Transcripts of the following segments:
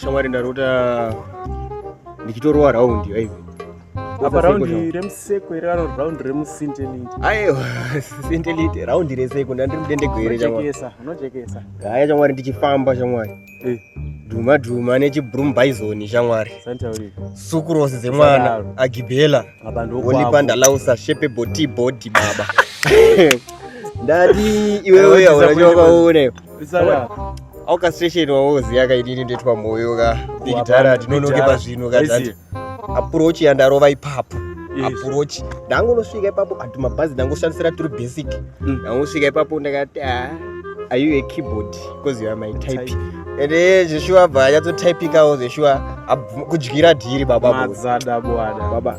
shamwari ndarota ndichitorova raundi aive apa raundi remuseko iri raro raundi remusintelite aiwa sintelite raundi reseko ndandiri mudendego here chamwariesa unojekesa haya chamwari ndichifamba chamwari eh. dhuma dhuma nechibroom bison shamwari sukurosi dzemwana agibhela olipandalausa shepe boti bodi baba ndati iwewe aona chawakaona au castration wauziya ka inini ndoitwa moyo ka digitara tinonoke pazvinhu ka that approach yandarova ipapo approach ndangonosvika ipapo ati mabhazi ndangoshandisira turi basic mm. ndangosvika ipapo ndakati ah, are you a keyboard because you are my type, type ende eh, zveshuwa bva anyatsotypikawo zveshuwa kudyira dhiri baba mazada bwana baba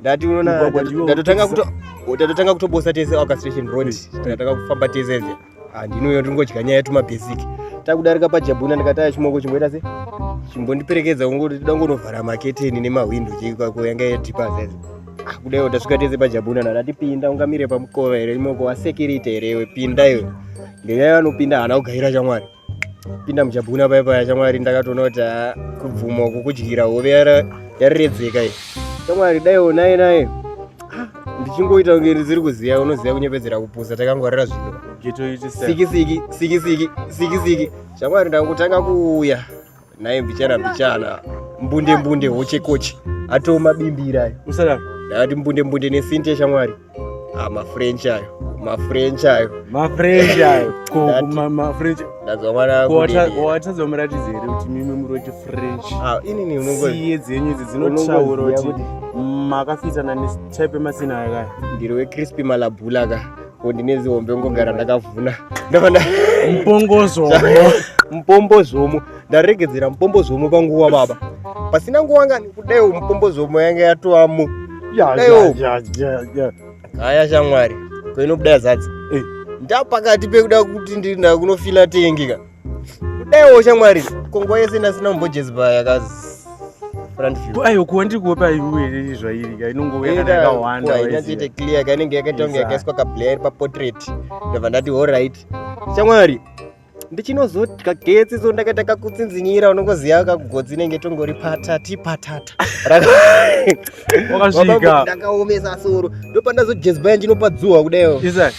ndati unoona Mugwagwa ndiwo ndatotanga wekupedzisa. kuto ndatotanga kutobosa tese orchestration road takatanga kufamba tese ende handinouyo ndingodya nyaya yetuma basic takudarika pajabhuna ndikataya chimoko chimboita se chimbondiperekedza kungoti toda kungovhara maketeni nemahwindo cheikako yanga yadhipa zeze Ah, kudaiwo tasvika tese pajabhuna ndati pinda ungamire pamukova here imoko wasekirite here iwe pinda iwe ngenyaya vanopinda haana kugaira chamwari pinda muchabhuna paya paya chamwari ndakatoona kuti ah, kubvuma uku kudyira hove yariredzeka iyi chamwari dai onai naye ah, ndichingoita kunge ndisiri kuziva unoziva kunyepedzera kupusa takangwarira zvino sikisiki sikisiki sikisiki chamwari ndakutanga kuuya naye mbichana mbichana mbunde mbunde hoche koche atoo mabimbira usadaro ndakati mbunde mbunde nesinti yeshamwari ah, mafrench ayo mafrench ayo mafrench ayo mafrench ndazwa mwana watadza muratidzi here kuti mimwe muri wati french ah, inini unongosiye dzenyu idzi dzinotaura kuti makafitana netype emasina akaya ndiri wecrispy malabhula ka ko ndine zihombe ngogara ndakavhuna ndavana mupongozvomo mupombozvomo ndaregedzera mupombozvomo panguva baba pasina nguva ngani kudaiwo mupombozvomo yanga yatovamo daiwo haya shamwari koinobuda yazadza ndapakati pekuda kuti ndinda kunofila tengika kudaiwo shamwari kongo yese nasina mbojezi paya kazi ayo kuwa ndiri kuopa iwe zvairi ka inongouya kana yakawanda inatoita clear ka inenge yakaita kunge yakaiswa kablair iri paportrait ndobva ndati horit shamwari ndichinozodya getsi so ndakaita kakutsinzinyira unongoziva kakugotsi inenge tongori patati patata ndakaomesa soro ndopandazojezbaya ndinopadzuhwa kudaio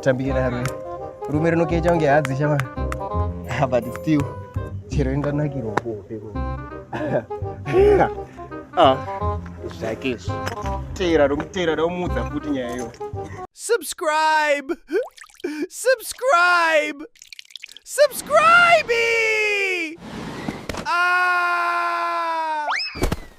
Tambira rume. Rume rinokecha kunge hadzi shama. Ah, but still chero inganakirwa kuhope. Ah, zvake izvi. Teera romuteera romuudza futi nyaya iyo. Subscribe! Subscribe! Subscribe! Ah!